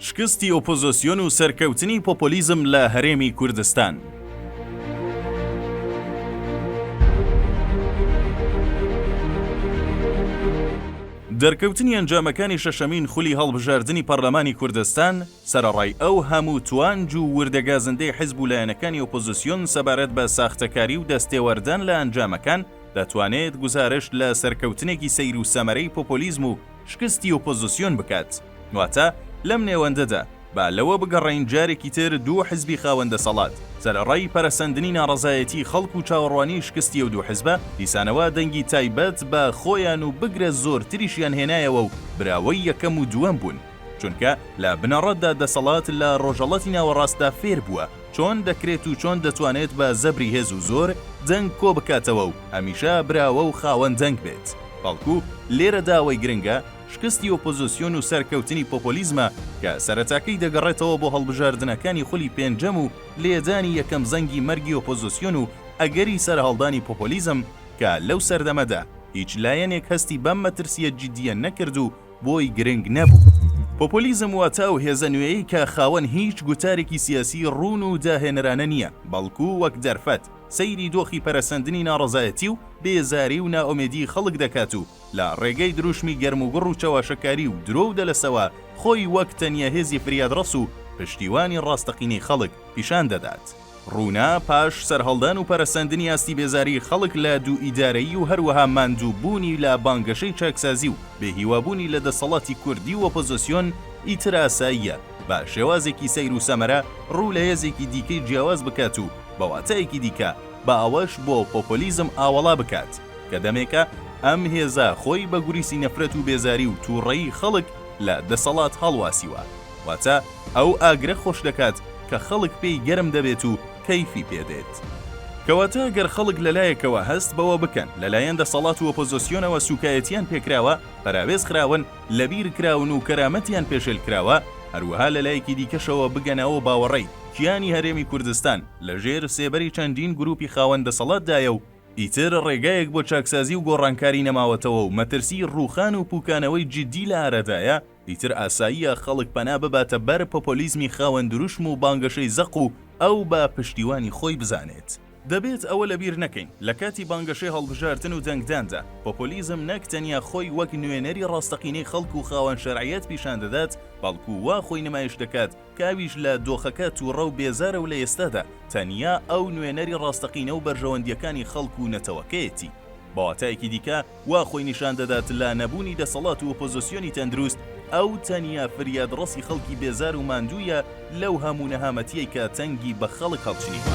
شکستی ئۆپۆزۆسیۆن و سەرکەوتنی پۆپۆلیزم لە هەرێمی کوردستان. دەرکەوتنی ئەنجامەکانی شەشەمین خولی هەڵبژاردنی پەرلەمانی کوردستان سەرەڕای ئەو هەموو توانج و وردە گازندەی حزب و لایەنەکانی ئۆپۆزیسیۆن سەبارەت بە ساختەکاری و دەستێوەردان لە ئەنجامەکان دەتوانێت گوزارشت لە سەرکەوتنێکی سەیر و سەمەرەی پۆپۆلیزم و شکستی ئۆپۆزسیۆن بکات، واتە لەم نێوەندەدا با لەوە بگەڕێین جارێکی تر دوو حزبی خاوەن دەسەڵات سەرەڕای پەرەسەندنی ناڕەزایەتیی خەڵک و چاوەڕوانیی شکستی ئەو دوو حزبە، دیسانەوە دەنگی تایبەت بە خۆیان و بگرە زۆرتریشیان هێنایەوە و براوەی یەکەم و دووەم بوون، چونکە لە بنەڕەتدا دەسەڵات لە ڕۆژەڵاتی ناوەڕاستدا فێر بووە، چۆن دەکرێت و چۆن دەتوانێت بە زەبری هێز و زۆر دەنگ کۆ بکاتەوە و هەمیشە براوە و خاوەن دەنگ بێت، بەڵکو لێرەدا ئەوەی گرنگە شکستی ئۆپۆزسیۆن و سەرکەوتنی پۆپۆلیزمە کە سەرەتاکەی دەگەڕێتەوە بۆ هەڵبژاردنەکانی خولی پێنجەم و لێدانی یەکەم زەنگی مەرگی ئۆپۆزسیۆن و ئەگەری سەرهەڵدانی پۆپۆلیزم کە لەو سەردەمەدا هیچ لایەنێک هەستی بەم مەترسییە جیدییە نەکرد و بۆی گرنگ نەبوو. پۆپۆلیزم واتە ئەو هێزە نوێیەی کە خاوەن هیچ گوتارێکی سیاسی ڕوون و داهێنەرانە نییە، بەڵکو وەک دەرفەت سەیری دۆخی پەرەسەندنی ناڕەزایەتی و بێزاری و نائومێدیی خەڵک دەکات و لە ڕێگەی دروشمی گەرموگوڕ و چەواشەکاری و درۆ و دەلەسەوە خۆی وەک تەنیا هێزی فریادڕەس و پشتیوانی ڕاستەقینەی خەڵک پیشان دەدات. ڕوونە، پاش سەرهەڵدان و پەرەسەندنی ئاستی بێزاریی خەڵک لە دووئیدارەیی و هەروەها ماندووبوونی لە بانگەشەی چاکسازی و بێهیوابوونی لە دەسەڵاتی کوردی و ئۆپۆزسیۆن، ئیتر ئاساییە بە شێوازێکی سەیر و سەمەرە ڕوو لە هێزێکی دیکەی جیاواز بکات و بە واتایەکی دیکە با ئەوەش بۆ پۆپۆلیزم ئاوەڵا بکات کە دەمێکە ئەم هێزە خۆی بە گوریسی نەفرەت و بێزاری و تووڕەیی خەڵک لە دەسەڵات هەڵواسیوە. واتە ئەو ئاگرە خۆش دەکات کە خەڵک پێی گەرم دەبێت و کەیفی پێ دێت. کەواتە گەر خەڵک لەلایەکەوە هەست بەوە بکەن لەلایەن دەسەڵات و ئۆپۆزۆسیۆنەوە سوکایەتیان پێکراوە، پەراوێز خراون، لەبیر کراون و کەرامەتیان پێشێل کراوە، هەروەها لەلایەکی دیکەشەوە بگەنە ئەو باوەڕەی کیانی هەرێمی کوردستان لەژێر سێبەری چەندین گروپی خاوەن دەسەڵاتدایە و ئیتر ڕێگایەک بۆ چاکسازی و گۆڕانکاری نەماوەتەوە و مەترسیی ڕووخان و پووکانەوەی جیددی لە ئارادایە، ئیتر ئاساییە خەڵک پەنا بباتە بەر پۆپۆلیزمی خاوەن دروشم و بانگەشەی زەق و ئەو بە پشتیوانی خۆی بزانێت. دەبێت ئەوە لەبیر نەکەین، لە کاتی بانگەشەی هەڵبژاردن و دەنگداندا، پۆپۆلیزم نەک تەنیا خۆی وەک نوێنەری ڕاستەقینەی خەڵک و خاوەن شەرعیەت پیشان دەدات، بەڵکو وا خۆی نمایش دەکات کە ئەویش لە دۆخەکە تووڕە و بێزارە و لە ئێستادا تەنیا ئەو نوێنەری ڕاستەقینە و بەرژەوەندییەکانی خەڵک و نەتەوەکەیەتی. بە واتایەکی دیکە وا خۆی نیشان دەدات لە نەبوونی دەسەڵات و ئۆپۆزسیۆنی تەندروست، ئەو تەنیا فریادڕەسی خەڵکی بێزار و ماندوویە لەو هەموو نەهامەتییەی کە تەنگی بە خەڵک هەڵچنیوە.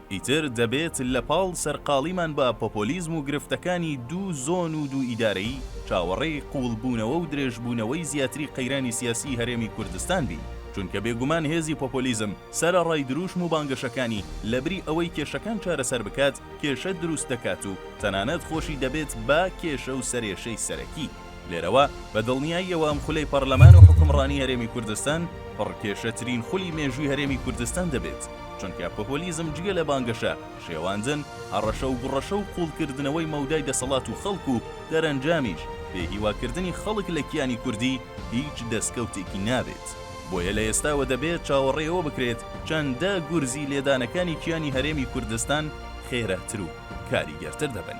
ئیتر دەبێت لە پاڵ سەرقاڵیمان بە پۆپۆلیزم و گرفتەکانی دوو زۆن و دوو ئیدارەیی، چاوەڕێی قووڵبوونەوە و درێژبوونەوەی زیاتری قەیرانی سیاسیی هەرێمی کوردستان بین، چونکە بێگومان هێزی پۆپۆلیزم سەرەڕای درووشم و بانگەشەکانی، لەبری ئەوەی کێشەکان چارەسەر بکات، کێشە دروست دەکات و تەنانەت خۆشی دەبێت بە کێشە و سەرێشەی سەرەکی. لێرەوە بە دڵنیاییەوە ئەم خولەی پەڕلەمان و حوکمڕانی هەرێمی کوردستان پڕ کێشەترین خولی مێژووی هەرێمی کوردستان دەبێت، چونکە پۆپۆلیزم جگە لە بانگەشە، شێواندن، هەڕەشە و گوڕەشە و قوڵکردنەوەی مەودای دەسەڵات و خەڵک و دەرەنجامیش بێ هیواکردنی خەڵک لە کیانی کوردی هیچ دەسکەوتێکی نابێت. بۆیە لە ئێستاوە دەبێت چاوەڕێ ئەوە بکرێت چەندە گورزی لێدانەکانی کیانی هەرێمی کوردستان خێراتر و کاریگەرتر دەبن.